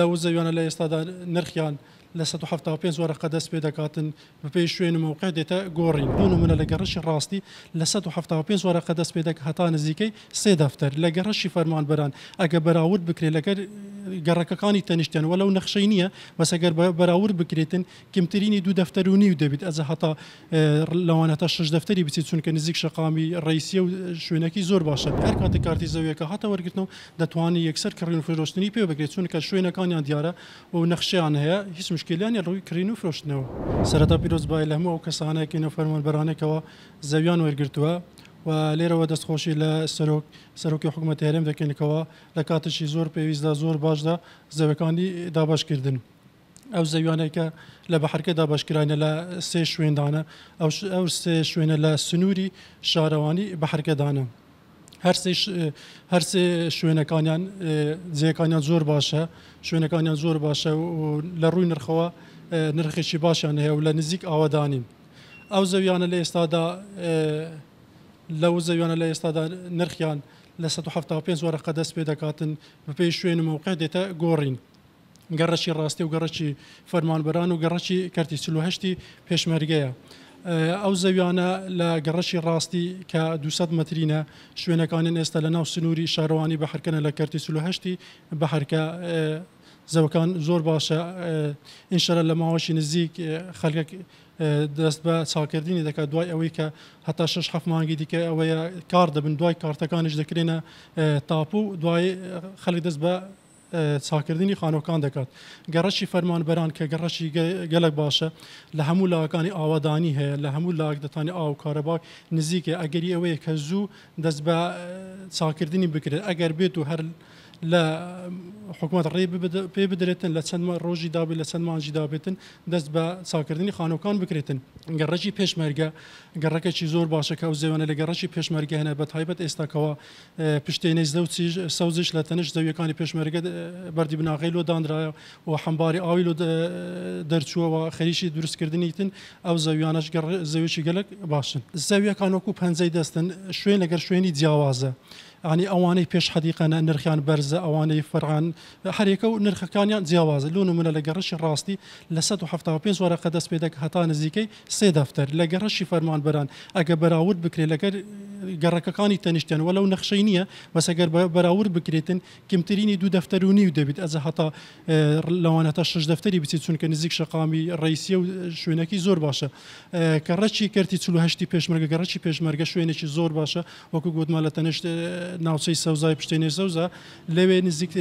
لە وزەویانە لە ئێستادا نرخیان لە سەد و حەفتا و پێنج وەرەقە دەست پێ دەکاتن بەپێی شوێن و مەوقع دێتە گۆڕین بۆ نموونە لە گەڕەکی ڕاستی لە سەد و حەفتا و پێنج وەرەقە دەست پێ دەک هەتا نزیکەی سێ دەفتەر لە گەڕەکی فەرمانبەران ئەگە بەراورد بکرێ لەگەر گەڕەکەکانی تەنیشتیان وەلەو نەخشەی نییە بەس ئەگەر بەراورد بکرێتن کمترینی دوو دەفتەر و نیو دەبیت ئەجا هەتا لەوان هەتا شەش دەفتەری بچیت چونکە نزیک شەقامی ڕیسیە و شوێنەکی زۆر باشە بێ هەر کاتە کارتی زەویەکە هاتە وەرگرتنەوە دەتوانی یەکسەر کڕین و فرۆشتنی پێ بکرێت چونکە شوێنەکانیان دیارە و نەخشەیان هەیە هیچ مشکلیان نیە ڕووی کڕین و فرۆشتنەوە. سەرەتا پیرۆز بایە لە هەموو ئەو کەسانە کەی نەفەرمانبەرانەی کەوا زەویان وەرگرتووە و لێرەوە دەست خۆشی لە سەرۆک سەرۆکی حکومەتی هەرێم دەکەین کەوا لە کاتێکی زۆر پێویستدا زۆر باشدا زەویەکانی دابەش کردن. ئەو زەویانەی کە لە بەحرکە دابەشکراینە لە سێ شوێندانە، ئەو سێ شوێنە لە سنووری شارەوانی بەحرکەدانە. هەر سێ شوێنەکانیان جێکانیان زۆر باشە، شوێنەکانیان زۆر باشە و لە ڕووی نرخەوە نرخێکی باشیان هەیە و لە نزیک ئاوەدانین. ئەو زەویانە لە ئێستادا لەو زەویانە لە ئێستادا نرخیان لە سەد و حەفتا و پێنج وەرەقە دەست پێ دەکاتن، بەپێی شوێن و مەوقع دێتە گۆڕین. گەڕەکی ڕاستی و گەڕەکی فەرمانبەران و گەڕەکی کەرتی چل و هەشتی پێشمەرگەیە. ئەو زەویانە لە گەڕەکی ڕاستی کە دوو سەد مەترینە، شوێنەکانین ئێستا لە ناو سنووری شارەوانی بەحرکەنە لە کەرتی چل و هەشتی بەحرکە زەوکان زۆر باشە ان شاءاللە لە ماوەشی نزیک خەلک دەست بە چاکردنی دەکات دوای ئەوەی کە هەتا شەش حەفت مانگی دیکە ئەوەیە کار دەبن دوای کارتەکانیش دەکرێنە تاپو دوای خەلک دەست بە چاککردنی خانووەکان دەکات. گەڕەکی فەرمانبەران کە گەڕەکی گەلەک باشە، لە هەموو لایەکانی ئاوەدانی هەیە، لە هەموو لایەک دەتوانێت ئاو و کارەبا نزیکە، ئەگەری ئەوەیە کە زوو دەست بە چاککردنی بکرێت، ئەگەر بێت و هەر لە حکومەت ڕێ پێ بدرێتن لە چەند ڕۆژی دابێت لە چەند مانگی دابێتن دەست بە چاککردنی خانووەکان بکرێتن. گەڕەکی پێشمەرگە گەڕەکێکی زۆر باشە کە ئەو زێوانە لە گەڕەکی پێشمەرگە هەن بەتایبەت ئێستا کەوا پشتێنەی زەوچیش سەوزیش لە تەنیشت زەویەکانی پێشمەرگە بەردی بناغەی لۆ دانرایە و حەمباری ئاوی لۆ دەرچووەوە خەریکی دروستکردنی تن ئەو زەویانەش زەویی گەلک باشن زەویەکان وەکو پەنجەی دەستن شوێن لەگەر شوێنی جیاوازە عنی ئەوانەی پێش حەدیقەنە نرخیان بەرزە ئەوانەی فەران هەرێکە و نرخەکانیان جیاوازە لۆ نمونە لەگە ڕشی ڕاستی لە 1970 وارەقە دەست پێ دەک هەتا نزیکەی سێ دەفتەر لە گەڕەکی فەرمانبەران ئەگەر بەراورد بکرێت لەگەر گەڕەکەکانی تەنیشتیان وەلەو نەخشەی نییە بەس ئەگەر بەراورد بکرێتن کمترینی دوو دەفتەر و نیو دەبیت ئەزە هەتا لەوان هەتا شش دەفتەری بچیت چونکە نزیک شەقامی ڕیسیە و شوێنەکی زۆر باشە کە ڕەچی کردی چلو هەشتی پێشمەرگە گەڕەکی پێشمەرگە شوێنێکی زۆر باشە وەکو گوتمان لە تەنیشت ناوچەی سەوزای پشتێنێ سەوزە لەوێ نزیک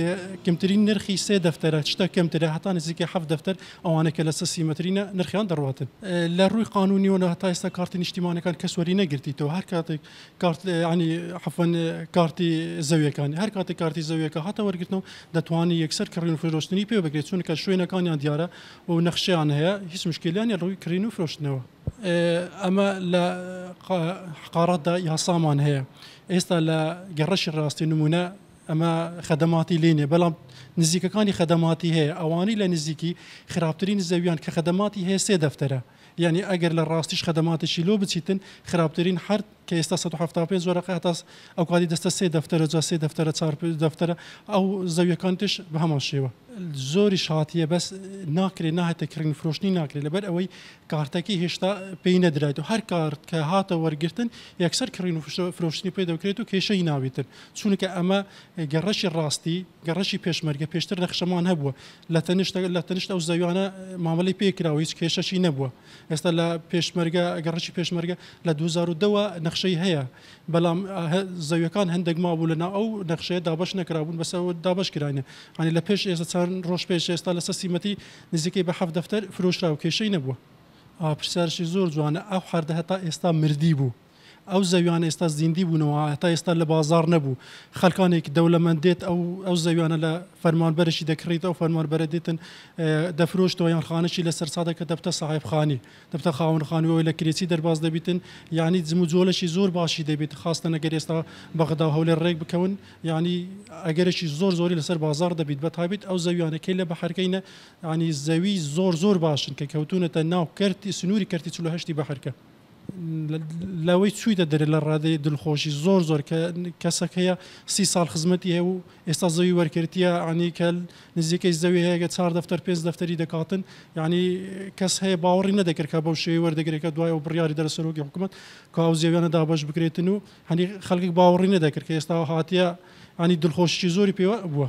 کمترین نرخی سێ دەفتەرە چتە کەمترە هەتا نزیکە حەفت دەفتەر ئەوانە کە لە سە سیمەترینە نرخیان دەڕواتن لە ڕووی قانونیەوە لە هەتا ئێستا کارتی نیشتیمانەکان کەس وەری نەگرتیتەوە هەر کاتێک کارت عنی حەفەن کارتی زەویەکانی هەر کاتێک کارتی زەویەکە هاتە وەرگرتنەوە دەتوانانی یەکسەر کڕین و فرۆشتنی پێ بگرێت چونکە شوێنەکانیان دیارە و نەخشیان هەیە هیچ مشکلیانی ڕووی کڕین و فرۆشتنەوە ئەمە لە قارەتدا یاسامان هەیە ئێستا لە گەڕەکی ڕاستی نموونە ئەمە خەدەماتی لێ نیە بەڵام نزیکەکانی خەدەماتی هەیە ئەوانەی لە نزیکی خراپترین زەویان کە خەدەماتی هەیە سێ دەفتەرە یعنی ئەگەر لە ڕاستیش خەدەماتێکی لۆ بچیتن خراپترین حرد کە ئێستا 1970 زۆرەکە هەتا ئەو کاتی دەستە سێ دەفتەرە جا سێ دەفتەرە چار دەفتەرە ئەو زەویەکان تش بە هەمان شێوە زۆری شاتیە بەس ناکرێت ناهێتە کڕین فرۆشتنی ناکرێت لەبەر ئەوەی کارتەکەی هێشتا پێی نەدرایت و هەر کارت کە هاتە وەرگرتن یەکسەر کڕین و فرۆشتنی پێ دەکرێت و کێشەی ناویتن چونکە ئەمە گەڕەشی ڕاستی گەڕەشی پێشمەرگە پێشتر نەخشەمان هەبووە لە تەنشت لە تەنشت ئەو زەویانە مامەلی پێکراوە هیچ کێشەشی نەبووە ئێستا لە پێشمەرگە گەڕەشی پێشمەرگە لە 2010ەوە نەخشەی هەیە بەڵام زەویەکان هەندێک مابوو لە ناو ئەو نەخشەیە دابش نەکرابوون بەسەوە دابش کراینە ئەنی لە پێش ئێستا چەند ڕۆژ پێش ئێستا لەسەر سیمەتی نزیکەی بە حەفت دەفتەر فرۆشراو کێشەی نەبووە. ئا پرسیارشی زۆر جوانە ئەو حەردە هەتا ئێستا مردی بوو ئەو زەویانە ئێستا زیندی بوونەوە هەتا ئێستا لە بازاڕ نەبوو خەلکانێک دەولەمەند دێت ئەو ئەو زەویانە لە فەرمانبەرەکی دەکڕیت ئەو فەرمانبەرە دێتن دەفرۆشتەوە یان خانەکی لەسەر سادە کە دەبتە ساحێب خانی دەبتە خاوەن خانووەوەی لە کرێچی دەرباز دەبیتن یانی جم و جۆلەشی زۆر باشی دەبیت خاستەن ئەگەر ئێستا بەغدا و هەولێر ڕێک بکەون یانی ئەگەرێکی زۆر زۆری لەسەر بازاڕ دەبیت بە تایبەت ئەو زەویانە کەی لە بەحرکەینە یانی زەوی زۆر زۆر باشن کە کەوتونەتە ناو کەرتی سنووری کەرتی چل و هەشتی بەحرکە لەوەی چویتە دەرێ لە ڕادەی دلخۆشی زۆر زۆر کە کەسەکەیە سی ساڵ خزمەتی هەیە و ئێستا زەوی وەرکەرتیە عنی کەل نزیکەی زەوی هەیە کە چار دەفتەر پێنج دەفتەری دەکاتن عنی کەس هەیە باوەڕی نەدەکرد کە بەو شێوەی وەردەگرێت کە دوای ئەو بڕیاری دەرە سەرۆکی حکومەت کە ئەو زێویانە دابەش بکرێتن و عنی خەلکک باوەڕی نەدەکرد کە ئێستا هاتیە عنی دلخۆشیی زۆری پێوە بووە.